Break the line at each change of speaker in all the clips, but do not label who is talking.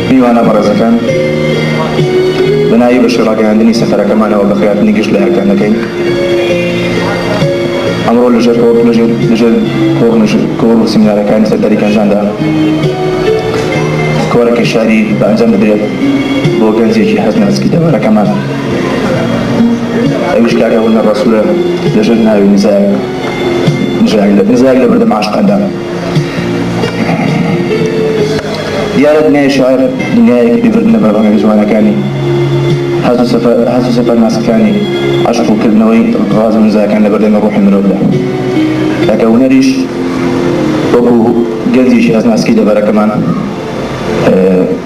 میوانە بەڕێزەکان بەناوی بەشی ڕاگەیاندنی سەفەرەکەمانەوە بە خەیاتنی گشت لە هەرکان دەکەین ئەمڕۆ لەژێر لەژێر کۆڕ و سیمینارەکانی سەرداری گەنجاندا کۆرەکە شاری بە ئەنجام بدرێت بۆ گەنجێکی هەست ناسکی دەوارەکەمان ئەویش کاکە هەولە ڕسوورە لەژێر ناوی نزایە نزاک لە بەردەم عاشقاندا. دیارە دنیای شیعر دنیایەکی بێبردنە بە ڕەنگە جوانەکانی حەز و سەفە حەز و سەفەر ناسکەکانی عەشق و کردنەوەی ڕاز و نزاکان لە بەردەمی ڕۆحی مرۆڤدا تاکە هونەریش وەکوو گەنجێکی هەست ناسکی دەڤەرەکەمان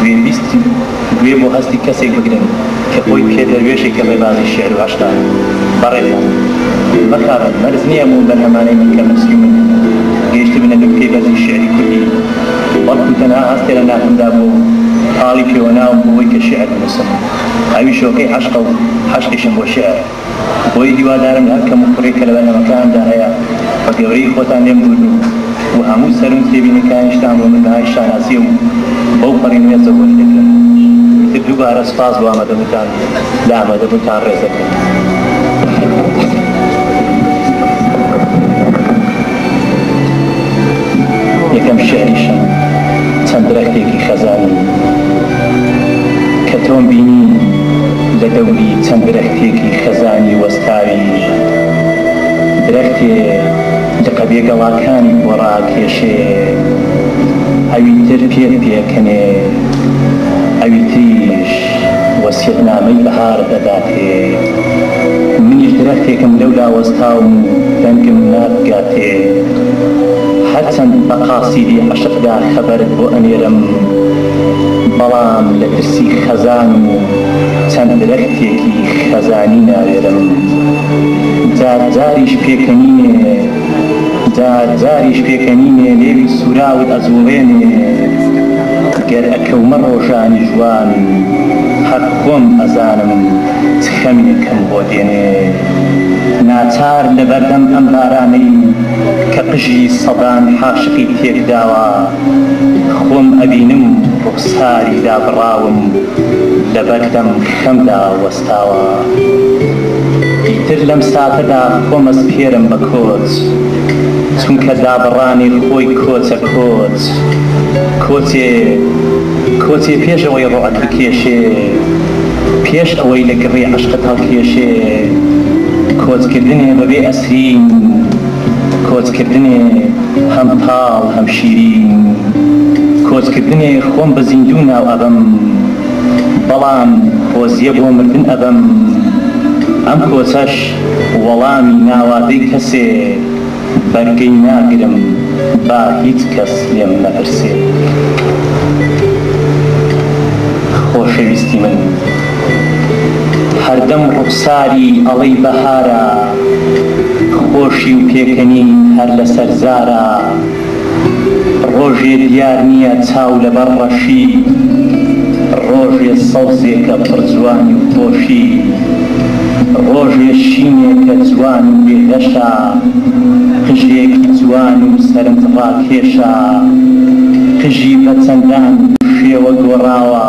گوێبیستی و گوێ بۆ هەستی کەسێک بگرن کە خۆی پێ دەروێشێکی ڕێبازی شیعر و عەشقە. بەڕێزان مەخابن، مەرج نییە ئەم بەرهەمانەی من کە من سی و نۆ یمە، گەیشتبنە نوکتەی بەرزی شیعری کوردی، بەڵکو تەنها هەستێ لە ناخمدا بووە و پاڵی پێوەناوم بۆوەی کە شیعر بنووسم. ئەویش هۆکەی عەشقە و عەشقیشم بۆ شیعر. بۆیە هیوادارم هەر کەم و کوڕێک کە لە بەرهەمەکانمدا هەیە بە گەورەیی خۆتان لێم دووربن و هەموو سەرم تێبینیەکانیشتان بۆ من بەهای شانازیە و بەو پەڕی نوێزە وەری دەگرم ئیتر دووبارە سوپاس بۆ ئامادەبوونتان لە ئامادەبوونتان ڕێز دەگرم یەکەم شعریشم چەند درەختێکی خەزانی کە تۆم بینی لە دەوری چەند درەختێکی خەزانی وەستاوی، درەختێ لقە بێ گەڵاکانی بۆ ڕاکێشێ، ئەوی تر پێت پێکەنێ، ئەوی تریش وەسیەتنامەی بەهار دەداتێ. منیش درەختێکم لەولا وەستاوم و دەنگم نابگاتێ. هەر چەند بە قاسیدی عەشقدا خەبەرت بۆ ئەنێرم، بەڵام لە ترسی خەزان و چەند درەختێکی خەزانی ناوێرم جار جاریش پێکەنینێ جار جاریش پێکەنینێ لێوی سوراوت ئەجوڵێنێ گەر ئەکەومە ڕۆژانی ژوان هەق خۆم ئەزانم چ خەمێکم بۆ دێنێ ناچار لەبەردەم ئەم بارانەی کە قژی سەدان حاشقی تێکداوە خۆم ئەبینم ڕوخساری دابڕاوم لەبەر دەم خەمدا وەستاوە ئیتر لەم ساتەدا خۆم ئەسپێرم بە کۆچ چونکە دابڕانی خۆی کۆچە کۆچ کۆچێ کۆچێ پێش ئەوەی ڕۆعت بکێشێ پێش ئەوەی لە گڕی عەشقت هەڵکێشێ کۆچکردنێ بەبێ ئەسرین کۆچکردنێ هەم تاڵ هەم شیرین کۆچ کردنێ خۆم بە زیندوو ناو ئەبەم بەڵام خۆزیە بۆ مردن ئەبەم ئەم کۆچەش وەڵامی ناوادەی کەسێ بەرگەی ناگرم با هیچ کەس لێم نەپرسێ خۆشەویستی من. هەردەم ڕوخساری ئەڵێی بەهارە خۆشی و پێکەنین هەر لەسەر زارە ڕۆژێ دیار نییە چاو لەبەر ڕەشی ڕۆژێ سەوزێکە پڕ جوانی و خۆشی ڕۆژێ شینێکە جوان و بێ گەشە قژێکی جوان و سەرنجڕاکێشە قژی بە چەندان شێوە گۆڕاوە.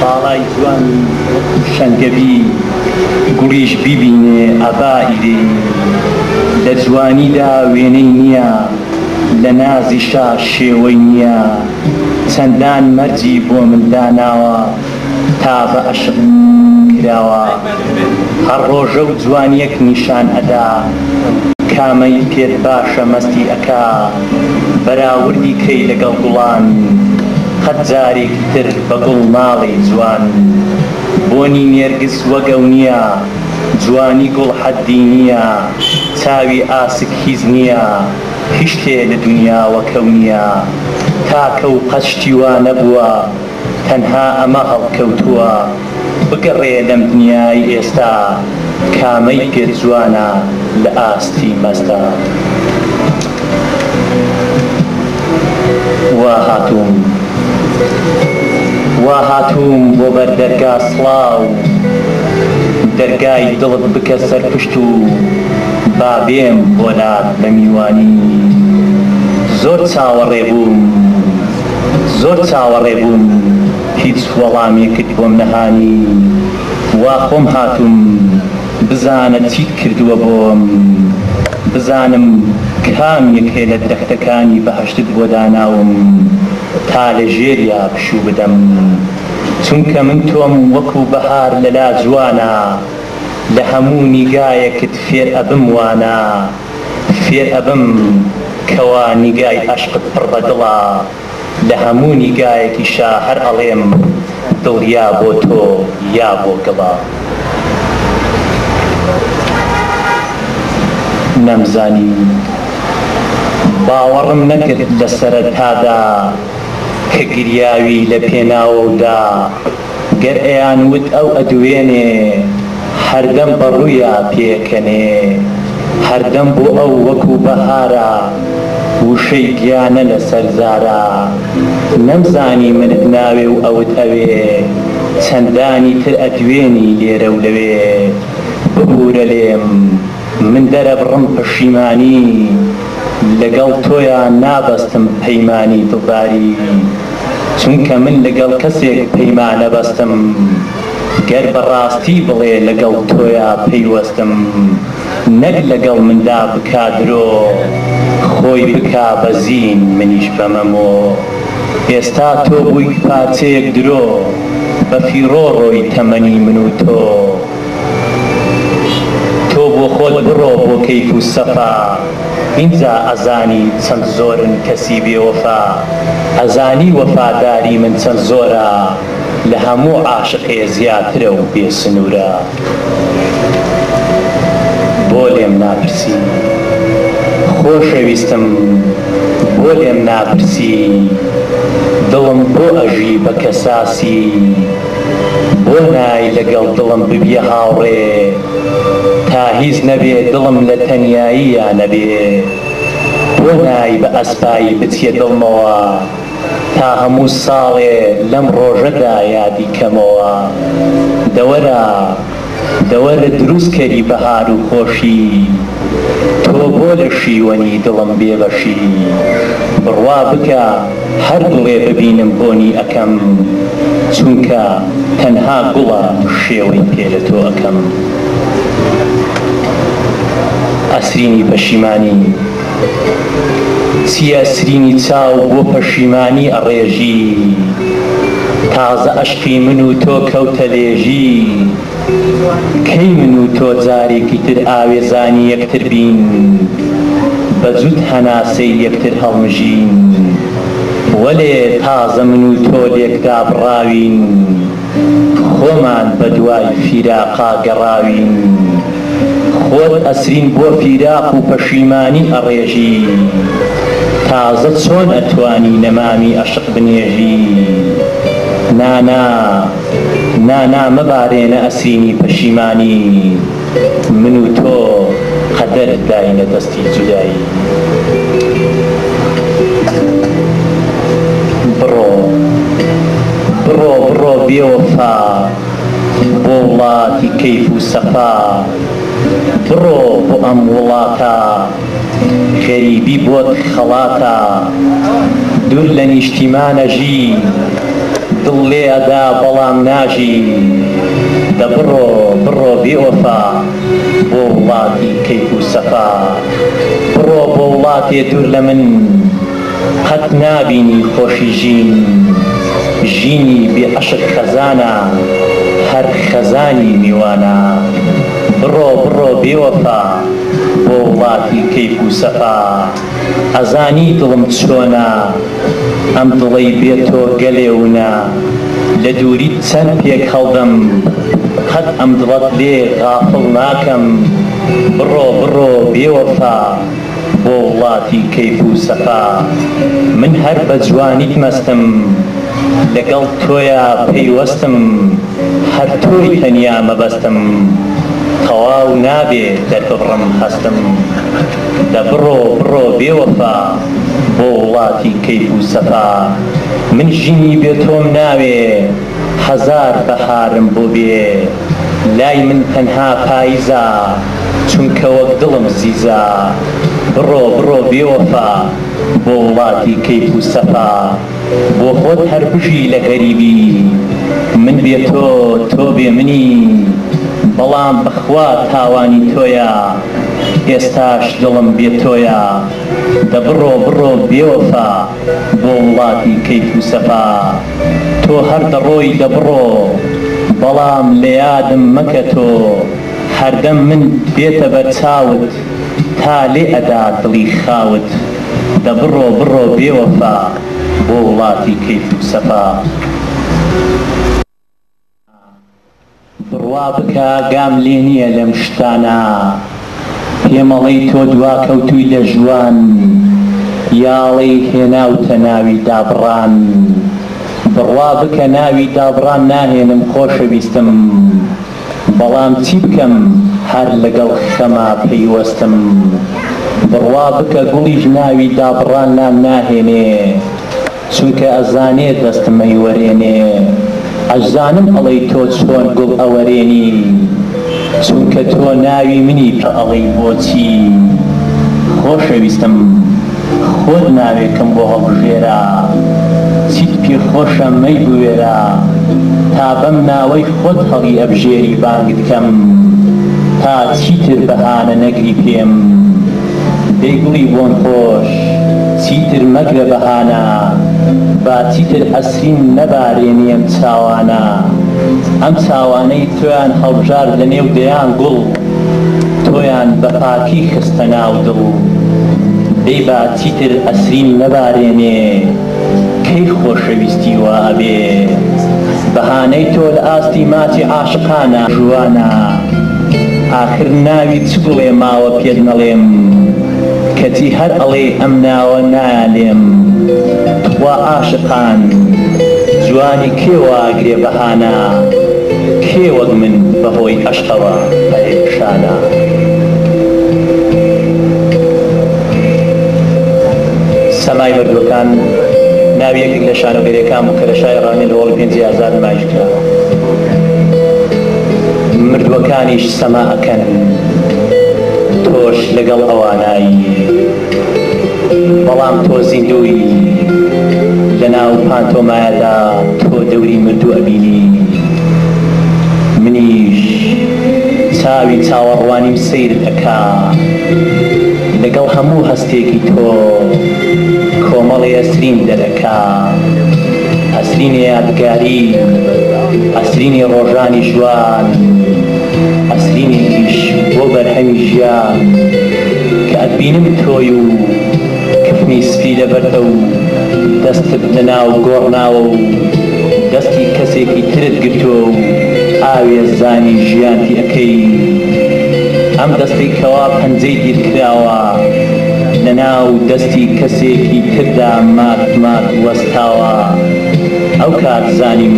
باڵای جوانی وەکو شەنگەبی گوڵیش بیبینێ ئەبا ئیرێنی لە جوانیدا وێنەی نییە لە نازیشا شێوەی نییە چەندان مەرجی بۆ من داناوە تا بە ئەشق کراوە هەر ڕۆژە و جوانیەک نیشان ئەدا کامەی پێت باشە مەستی ئەکا بەراوردی کەی لەگەڵ گوڵان قەت جارێکی تر بە گوڵ ناڵێی جوان بۆنی نێرگس وەک ئەو نیە جوانی گوڵ حەدی نیە چاوی ئاسک هیچ نیە هیشتێ لە دونیا وەکەو نیە تاکە و قەت شتی وا نەبووە تەنها ئەمە هەڵکەوتووە بگەڕێ لەم دنیای ئێستا کامەی پێت جوانە لە ئاستی مەزدا وا هاتووم وا هاتووم بۆ بەر دەرگا سڵاو دەرگای دڵت بکە سەرپشت و با بێم بۆ لات بە میوانی زۆر چاوەڕێ بووم. زۆر چاوەڕێ بووم هیچ وەڵامێکت بۆم نەهانی وا خۆم هاتووم بزانە چیت کردووە بۆم بزانم کام یەکێ لە درەختەکانی بەهەشتت بۆ داناوم تا لە ژێریا پشوو بدەم چونکە من تۆم وەکو بەهار لەلا جوانە لە هەموو نیگایەکت فێر ئەبم وانە فێر ئەبم کەوا نیگای ئەشقت پڕ بە دڵە لە هەموو نیگایەکیشا هەر ئەڵێم دڵ یا بۆ تۆ یا بۆ گڵە نەمزانی باوەڕم نەکرد لە سەرەتادا کە گریاوی لە پێناوەودا. گەر ئەیان وت ئەو ئەدوێنێ هەردەم بە ڕوویا پێکەنێ هەردەم بۆ ئەو وەکوو بەهارە وشەی گیانە لە سەر زارە نەمزانی منت ناوێ و ئەوت ئەوێ چەندانی تر ئەدوێنی لێرە و لەوێ ببوورە لێم من دەرەبڕم پەشیمانی لەگەڵ تۆیا نابەستم پەیمانی دڵداری چونکە من لەگەڵ کەسێک پەیمانەبەستم گەر بەڕاستی بڵێ لەگەڵ تۆیا پەیوەستم نەک لەگەڵ مندا بکا درۆ خۆی بکا بە زین منیش بەمە مۆ ئێستا تۆ بوویت پارچەیەک درۆ بەفیڕۆ ڕۆی تەمەنی من و تۆ تۆ بۆ خۆت بڕۆ بۆ کەیف و سەفا ئینجا ئەزانی چەند زۆرن کەسی بێ وەفا ئەزانی وەفاداری من چەند زۆرە لە هەموو عاشقێ زیاترە و بێ سنوورە بۆ لێم ناپرسی خۆشەویستم بۆ لێم ناپرسی دڵم بۆ ئەژی بە کەساسی. بۆ نای لەگەڵ دڵم ببیە هاوڕێ تا هیچ نەبێ دڵم لە تەنیاییا نەبێ بۆ نای بە ئەسپایی بچیە دڵمەوە تا هەموو ساڵێ لەم ڕۆژەدا یادی کەمەوە دەوەرە دەوە لە دروست کەری بەهار و خۆشی تۆ بۆ لە شیوەنی دڵم بێ بەشی بڕوا بکە هەر دڵێ ببینم بۆنی ئەکەم چونکە تەنها گوڵە شێوەی پێ لە تۆ ئەکەم ئەسرینی پەشیمانی. چیە سرینی چاو بۆ پەشیمانی ئەڕێژی تازە ئەشقی من و تۆ کەوتە لێژی کەی من و تۆ جارێکی تر ئاوێزانی یەکتر بین بە جوت هەناسەی یەکتر هەڵمژین وەلێ تازە من و تۆ لێکدابڕاوین خۆمان بەدوای فیراقا گەڕاوین خۆت ئەسرین بۆ فیراق و پەشیمانی ئەڕێژی تازە چۆن ئەتوانی نەمامی ئەشق بنێژی نانا نانا مەبارێنە ئەسرینی پەشیمانی. من و تۆ قەدەر داینە دەستی جودایی بڕۆ بڕۆ بڕۆ بێ وەفا بۆ وڵاتی کەیف و سەفا بڕۆ بۆ ئەم وڵاتە غەریبی بۆت خەڵاتە دور لە نیشتیمان ئەژی دڵ لێ ئەدا بەڵام ناژی دە بڕۆ بڕۆ بێ وەفا بۆ وڵاتی کەیف و سەفا بڕۆ بۆ وڵاتێ دور لە من قەت نابینی خۆشی ژین ژینی بێ عەشق خەزانە هەر خەزانی میوانە بڕۆ بڕۆ بێ وەفا. بۆ وڵاتی کەیف و سەفا ئەزانی دڵم چۆنە ئەم دڵەی بێ تۆ گەلێ ونە لە دووریت چەند پێک هەڵدەم قەت ئەم دڵەت لێ غافڵ ناکەم بڕۆ بڕۆ بێوەفا بۆ وڵاتی کەیف و سەفا من هەر بە جوانیت مەستم لەگەڵ تۆیا پەیوەستم هەر تۆی تەنیا مەبەستم تەواو نابێ دەرببڕم هەستم دە بڕۆ بڕۆ بێ وەفا بۆ وڵاتی کەیف و سەفا من ژینی بێ تۆم ناوێ هەزار بەهارم بۆ بێ لای من تەنها پایزە چونکە وەک دڵم زیزە بڕۆ بڕۆ بێ وەفا بۆ وڵاتی کەیف و سەفا. بۆ خۆت هەر بژی لە غەریبی من بێ تۆ تۆ بێ منی بەڵام بەخوا تاوانی تۆیە ئێستاش دڵم بێ تۆیە دە بڕۆ بڕۆ بێ وەفا بۆ وڵاتی کەیف و سەفا تۆ هەر دەڕۆی دە بڕۆ بەڵام لە یادم مەکە تۆ هەردەم من دێتە بەر چاوت تا لێ ئەدا دڵی خاوت دە بڕۆ بڕۆ بێ وەفا بۆ وڵاتی کەیف و سەفا بڕوا بکە گام لێ نییە لەم شتانە پێمەڵێی تۆ دواکەوتووی لە ژوان یاڵی هێناوتە ناوی دابڕان بڕوا بکە ناوی دابڕان ناهێنم خۆشەویستم. بەڵام چی بکەم هەر لەگەڵ خەما پەیوەستم بڕوا بکە گوڵیش ناوی دابڕان نان ناهێنێ چونکە ئەزانێ دەستم ئەیوەرێنێ ئەشزانم ئەڵێی تۆ چۆن گوڵ ئەوەرێنی چونکە تۆ ناوی منی پئەڵێی بۆچی خۆشەویستم. خۆت ناوێکم بۆ هەڵبژێرە چیت پێ خۆشە مەی بوێرە تا بەم ناوەی خۆت هەڵی ئەبژێری بانگت کەم تا چیتر بەهانە نەگری پێم دەی گوڵی بۆن خۆش چیتر مەگرە بەهانە با چیتر ئەسرین نەبارێنی ئەم چاوانە ئەم چاوانەی تۆیان هەڵبژارد لە نێو دەیان گوڵ. تۆیان بە پاکی خستە ناو دڵ دەی با چیتر ئەسریم نەبارێنێ کەی خۆشەویستی وا ئەبێ بەهانەی تۆ لە ئاستی ماچی عاشقانە جوانە ئاخر ناوی چ گوڵێ ماوە پێت نەڵێم کەچی هەر ئەڵێی ئەم ناوە نایانێم تخوا عاشقان جوانی کێ واگرێ بەهانە کێ وەک من بەهۆی ئەوە پەرێشانە. سەمای مردووەکان ناوی یەکێک لە شانۆگەریەکان بوو کە لە شاری ڕامی لە هۆڵی پێنجی ئازار نمایش کرا. مردووەکانیش سەما ئەکەن. تۆش لەگەڵ ئەوانای. بەڵام تۆ زیندووی لەناو پانتۆمایەدا تۆ دەوری مردوو ئەبینی منیش چاوی چاوەڕوانیم سەیرت ئەکا لەگەڵ هەموو هەستێکی تۆ کۆمەڵی ئەسریم دەرئەکا ئەسرینی یادگاری ئەسرینی ڕۆژانی ژوان ئەسرینێکیش بۆ بەرهەمی ژیان کە ئەتبینم تۆی و کفنی سپی لەبەرتە و دەستت لەناو گۆڕ ناوە و دەستی کەسێکی ترت گرتووە و ئاوێزانی ژیانتی ئەکەی ئەم دەستەی کەوا پەنجەی دیرکراوە لەناو دەستی کەسێکی تردا مات مات وەستاوە ئەوکات زانیم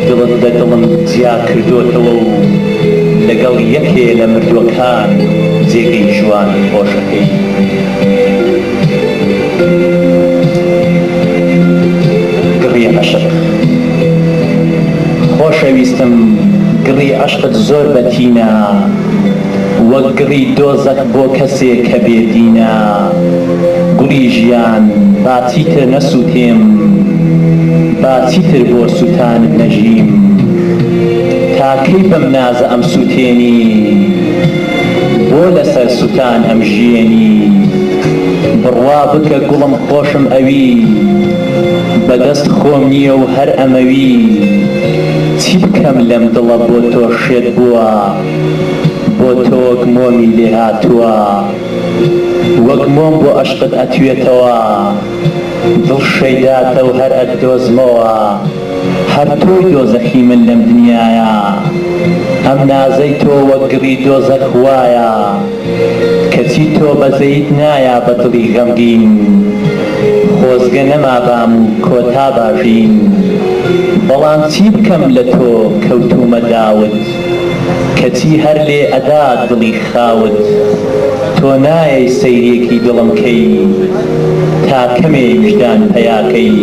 دڵت لەدڵم جیاکردۆتەوە و لەگەڵ یەکێ لە مردووەکان جێگەی جوان و خۆش ئەکەی. گڕی عەشق، خۆشەویستم گڕی عەشقت زۆر بە تینە وەک گڕی دۆزەخ بۆ کەسێ کە بێ دینە گوڵی ژیان با چیتر نەسووتێم با چیتر بۆ سووتانت نەژیم. تا کەی بەم نازە ئەمسوتێنی بۆ لەسەر سوتان ئەمژیێنی بڕوا بکە گوڵم خۆشم ئەوی بە دەست خۆم نیە و هەر ئەمەوی چی بکەم لەم دڵە بۆ تۆ شێت بووە بۆ تۆک مۆمی لێ هاتووە وەک مۆم بۆ ئەشقت ئەتوێتەوە دڵ شەیداتە و هەر ئەتدۆزمەوە. هەر تۆی دۆزەخی من لەم دنیایە ئەم نازەی تۆ وەک گڕی دۆزەخ وایە کەچی تۆ بەزەییت نایا بە دڵی غەمگین خۆزگە نەمابام و کۆتابا ژین بەڵام چی بکەم لە تۆ کەوتوومە داوت کەچی هەر لێ ئەدات دڵی خاوت تۆ نایەی سەیرێکی دڵم کەی تا کەمێ ویژدان پەیا کەی.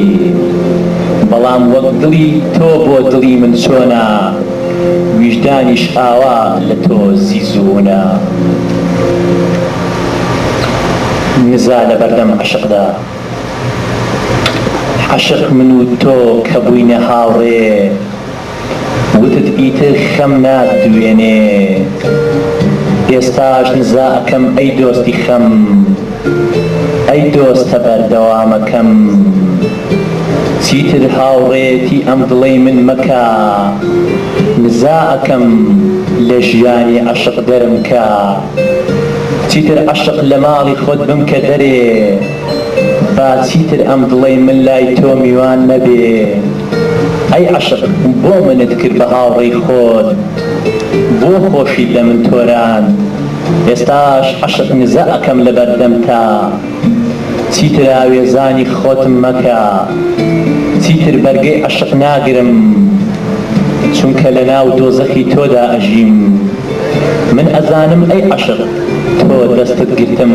بەڵام وەک دڵی تۆ بۆ دڵی من چۆنە ویژدانیش ئاوا لە تۆ زیز و ونە نزا لە بەردەم عەشقدا عەشق من و تۆ کە بووینە هاوڕێ وتت ئیتر خەم ناتدوێنێ ئێستاش نزا ئەکەم ئەی دۆستی خەم ئەی دۆستە بەردەوامەکەم چیتر هاوڕێیەتی ئەم دڵەی من مەکە نزا ئەکەم لە ژیانی عەشق دەرم کە چیتر عەشق لە ماڵی خۆت بمکە دەرێ. با چیتر ئەم دڵەی من لای تۆ میوان نەبێ ئەی عەشق بۆ منت کرد بە هاوڕێی خۆت بۆ خۆشیت لە من تۆراند ئێستاش عەشق نزا ئەکەم لە بەردەمتا چیتر ئاوێزانی خۆتم مەکە چیتر بەرگەی عەشق ناگرم چونکە لە ناو دۆزەخی تۆدا ئەژیم من ئەزانم ئەی عەشق تۆ دەستت گرتم.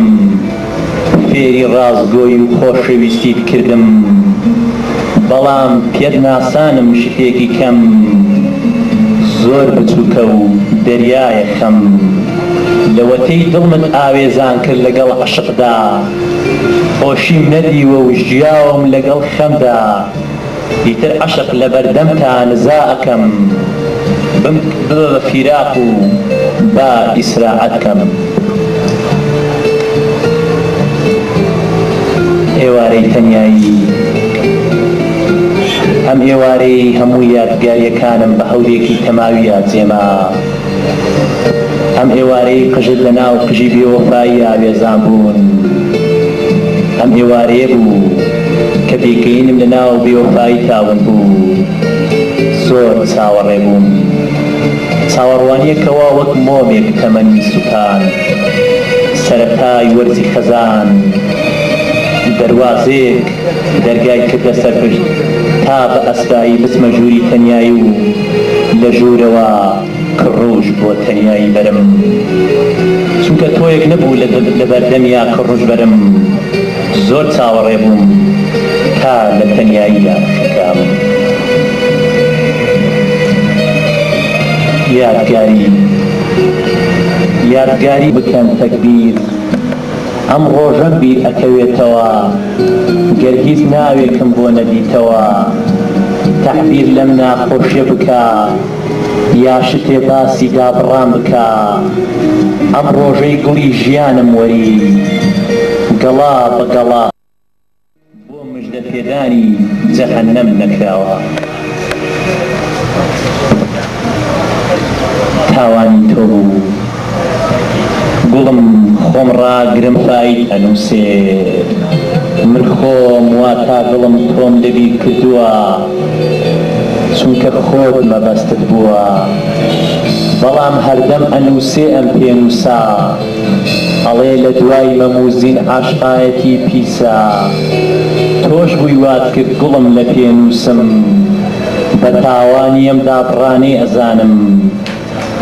فێری ڕاستگۆی و خۆشەویستیت کردم بەڵام پێت ناسانم شتێکی کەم زۆر بچوکە و دەریایە خەم لەوەتەی دڵمت ئاوێزان کرد لەگەڵ عەشقدا خۆشیم نەدیوە و ژیاوم لەگەڵ خەمدا ئیتر عەشق لەبەردەمتا نزا ئەکەم ببە بە فیراق و با ئیسراعەت کەم ئێوارەی تەنیایی ئەم ئێوارەی هەموو یادگاریەکانم بە هەورێکی تەماوی یاجێما. ئەم ئێوارەی قژت لە ناو قژی بێوەفایی ئاوێزان بوون ئەم ئێوارەیە بوو کە پێکەینم لە ناو بێوەفایی تاون بوو زۆر چاوەڕێ بووم چاوەڕوانیەکەوە وەک مۆمێک تەمەنی سوتان سەرەتای وەرزی خەزان دەروازەیەک دەرگای کردە سەر پشت تا بە ئەسرایی بچمە ژووری تەنیایی و لە ژوورەوە کڕوژ بۆ تەنیایی بەرم چونکە تۆیەک نەبوو لە بەردەمیا کڕوژ بەرم زۆر چاوەڕێ بووم تا لە تەنیاییا خەکام یادگاری بکەم تەکبیر. ئەم ڕۆژەم بیر ئەکەوێتەوە گەر هیچ ناوێکم بۆ نەدیتەوە تەعبیر لەم ناخۆشیە بکە یا شتێ باسی دابڕان بکە ئەم ڕۆژەی گوڵی ژیانم وەری گەڵا بە گەڵا بۆ مژدە پێدانی جەهەنەم نەکراوە؟ تاوانی تۆ بوو گوڵم خۆم ڕاگرم بایت ئەنوسێ من خۆم واتا دڵم تۆم لێ بیر کردووە چونکە خۆت مەبەستت بووە بەڵام هەردەم ئەنوسێ ئەم پێنوسە. ئەڵێ لە دوای مەمو زین عاشقایەتی پیسە تۆش بووی وات کرد گوڵم لە پێ نووسم بە تاوانی ئەم دابڕانەی ئەزانم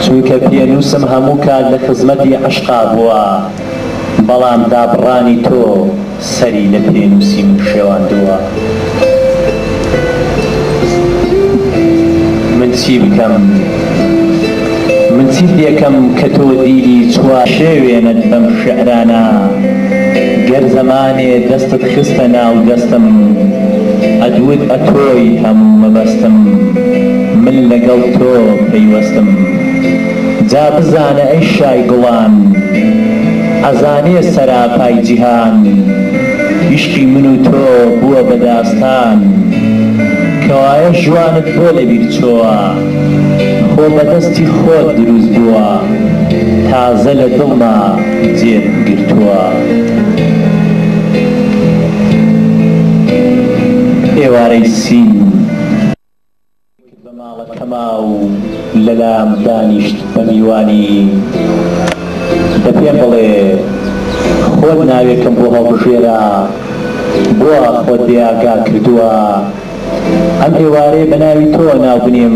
چونکە پێ نووسم هەموو کات لە خزمەتی عەشقا بووە بەڵام دابڕانی تۆ سەری لە پێنووسی من شێواندووە. من چی بکەم، من چی پێکەم کە تۆ دیلی چوار. شێوێنت بەم شیعرانە گەر زەمانێ دەستت خستە ناو دەستم ئەدوت ئەتۆی هەموو مەبەستم من لەگەڵ تۆ پەیوەستم. جا بزانە ئەی شای گوڵان ئەزانێ سەراپای جیهان یشقی من و تۆ بووە بە داستان کەوایە ژوانت بۆ لە بیر چۆوە خۆ بە دەستی خۆت دروست بووە تازە لە دڵما جێت گرتووە. ئێوارەی سین. کرد بە ماڵەکەما و لەلام دانیشت بە میوانی دە پێم بڵێ خۆت ناوێکم بۆ هەڵبژێرە بۆوا خۆت بێ ئاگا کردووە ئەم ئێوارەیە بە ناوی تۆوە ناو بنێم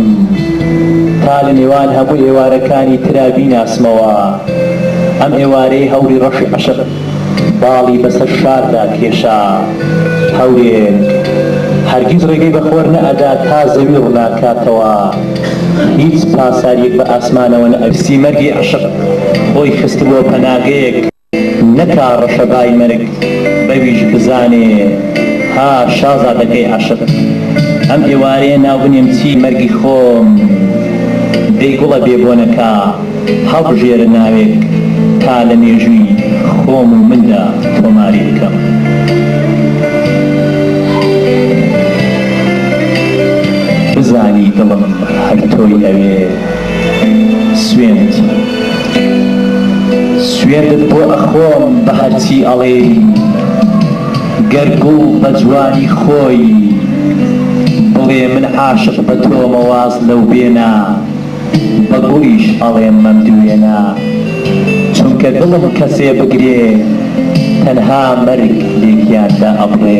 تا لە نێوان هەموو ئێوارەکانی ترا بیناسمەوە ئەم ئێوارەی هەوری ڕەشی عەشق باڵی بەسەر شاردا کێشا. هەورێک هەرگیز ڕێگەی بە خۆر نەئەدا تا زەوی ڕووناکاتەوە. هیچ پاساریەک بە ئاسمانەوە نەئەبینی. پسی مەرگی عەشق خۆی خستبووە پەناگەیەک. نەکا ڕەشەبای مەرگ بەویش بزانێ. ها شازادەکەی عەشق! ئەم ئێوارەیە ناوبنێم چی؟ مەرگی خۆم. دەی گوڵە بێ بۆنەکە! هەڵبژێرە ناوێک تا لە مێژووی خۆم و مندا تۆماری بکەم. بزانی دڵم هەر تۆی ئەوێ سوێند سوێندت بۆ ئەخۆم بە هەرچی ئەڵێی گەر گوڵ بە جوانی خۆی بڵێ من عاشق بە تۆمە واز لەو بێنە. بە گوڵیش ئەڵێم مەمدوێنە چونکە دڵم کەسێ بگرێ تەنها مەرگ لێکیان دا ئەبڕێ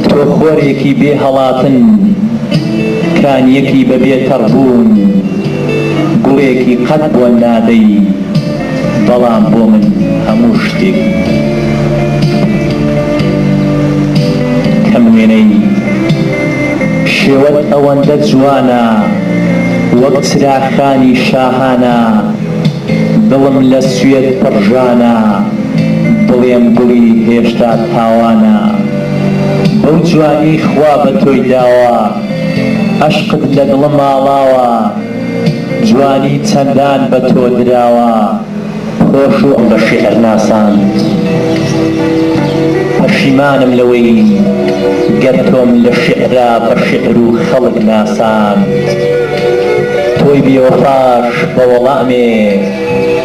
تۆ خۆرێکی بێ هەڵاتن کانیەکی بە بێ تەڕبوون گوڵێکی قەت بۆن نادەی بەڵام بۆ من هەموو شتێک بوو کەم وێنەی شێوەت ئەوەندە جوانە وەک چراخانی شاهانە دڵم لە سوێت پڕژانە بڵێم دڵی هێشتا تاوانە بەو جوانی خوا بە تۆی داوە عەشقت لە دڵم ئاڵاوە. جوانی چەندان بە تۆ دراوە خۆش و بە شیعر ناساند پەشیمانم لەوەی گەر تۆم لە شیعرا بە شیعر و خەڵک ناساند تۆی بێوەفاش بە وەڵامێ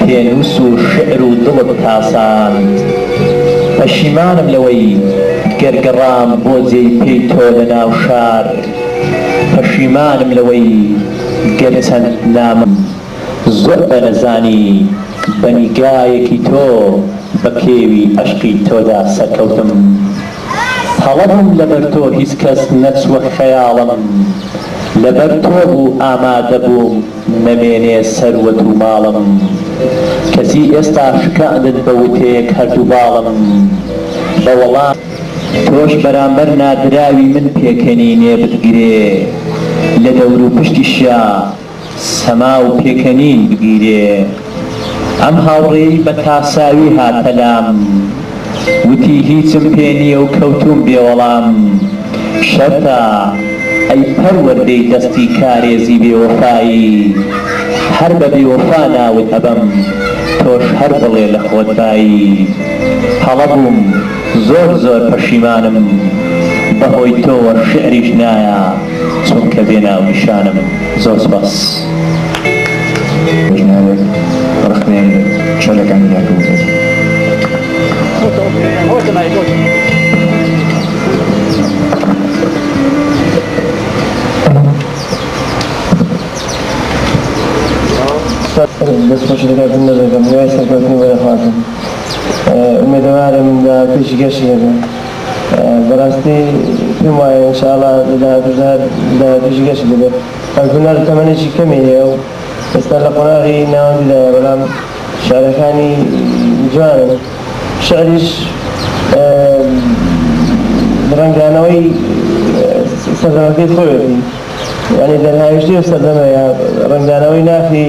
پێنووس و شیعر و دڵت تاساند پەشیمانم لەوەی گەر گەڕام بۆ جێی پێی تۆ لە ناو شار پەشیمانم لەوەی گەر چەند نامەم زۆر بەرزانی بە نیگایەکی تۆ بە کێوی ئەشقی تۆدا سەرکەوتم هەڵە بووم لەبەر تۆ هیچ کەس نەچووە خەیاڵم لەبەر تۆ بوو ئامادە بووم نەمێنێ سەروەت و ماڵم کەچی ئێستا شکاندن بە وتەیەک هەردوو باڵم بە وەڵام تۆش بەرامبەر نادراوی من پێکەنینێ بتگرێ لە دەوروپشتیشیا سەما و پێکەنین بگیرێ. ئەم هاوڕێی بە تاساوی هاتە لام وتی هیچم پێ نیە و کەوتوم بێ وەڵام. شەرتە ئەی پەروەردەی دەستی کارێزی بێ وەفایی هەر بە بێ وەفا ناوت ئەبەم تۆش هەر بڵێ لە خۆت بایی. هەڵە بوم. زۆر زۆر پەشیمانم بەهۆی تۆوە شعریش نایە چونکە بێ ناونیشانم زۆر سوپاس.
پێشنیارێک ڕەخنەیەم لە چەتەکانی یاکم دەکەم.
ئومێدەوارم لە پێشی گەشی هەبێ بەراستی پێم وایە ان شاءاللە لە داهاتووشدا هەر لە داهاتووشی گەشی دەبێت ئەم هونەر تەمەنێکی کەمی هەیە و ئێستا لە قۆناغی ناوەندیدایە بەلام شعرەکانی جوانن شعریش رەنگدانەوەی سەردەمەکەی خۆیەتی یانی دەرهاویشتەی ئەو سەردەمەیە رەنگدانەوەی ناخی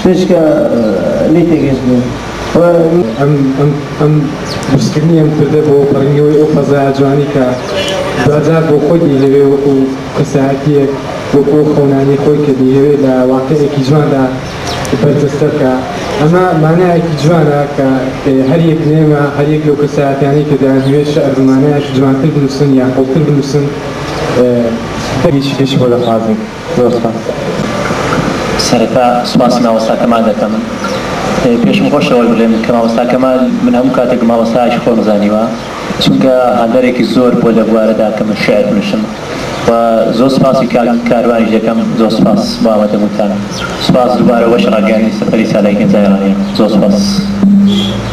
شتێکە لێی تێگەیشت بووم.
ئەم بەرزکردنی ئەم کوردە بۆ پەڕینەوەی ئەو فەزایە جوانەی کە دواجار بۆ خۆی دەیهەوێ وەکو کەسایەتییەک، وەکو ئەو خەونانەی خۆی کە دەیهەوێ لە واقیعێکی جواندا بەرجەستە بکا. ئەمە مانایەکی جوانە کە هەر یەک لە ئێمە، هەر یەک لەو کەسایەتیانەی کە دەیانهەوێ شیعر بە مانایەکی جوانتر بنووسن یا قووڵتر بنووسن،
دەگمەنە. زۆر سوپاس
سەرەتا سوپاسی مامۆستا کەمال دەکەم پێشم خۆش ئەوەش بلێم کە مامۆستا کەمال من هەموو کاتێک مامۆستایەکی خۆم زانیوە چونکە هاندەرێکی زۆر بووە لە بوارەدا کە من شیعر بنووسم و زۆر سوپاسی کاک کاروانیش دەکەم زۆر سوپاس بۆ ئامادە بوونتان سوپاس دووبارە بۆ بەشی ڕاگەیاندنی سەفەری سالاری گەنجانی ڕانیە زۆر سوپاس.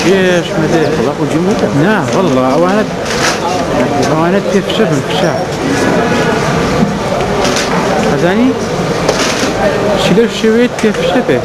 چێش مەدێ نا والله ئەوانە ئەوانە پێ فشە بن فشە ئەزانی چی لەو شێوێت پێ فشە بێت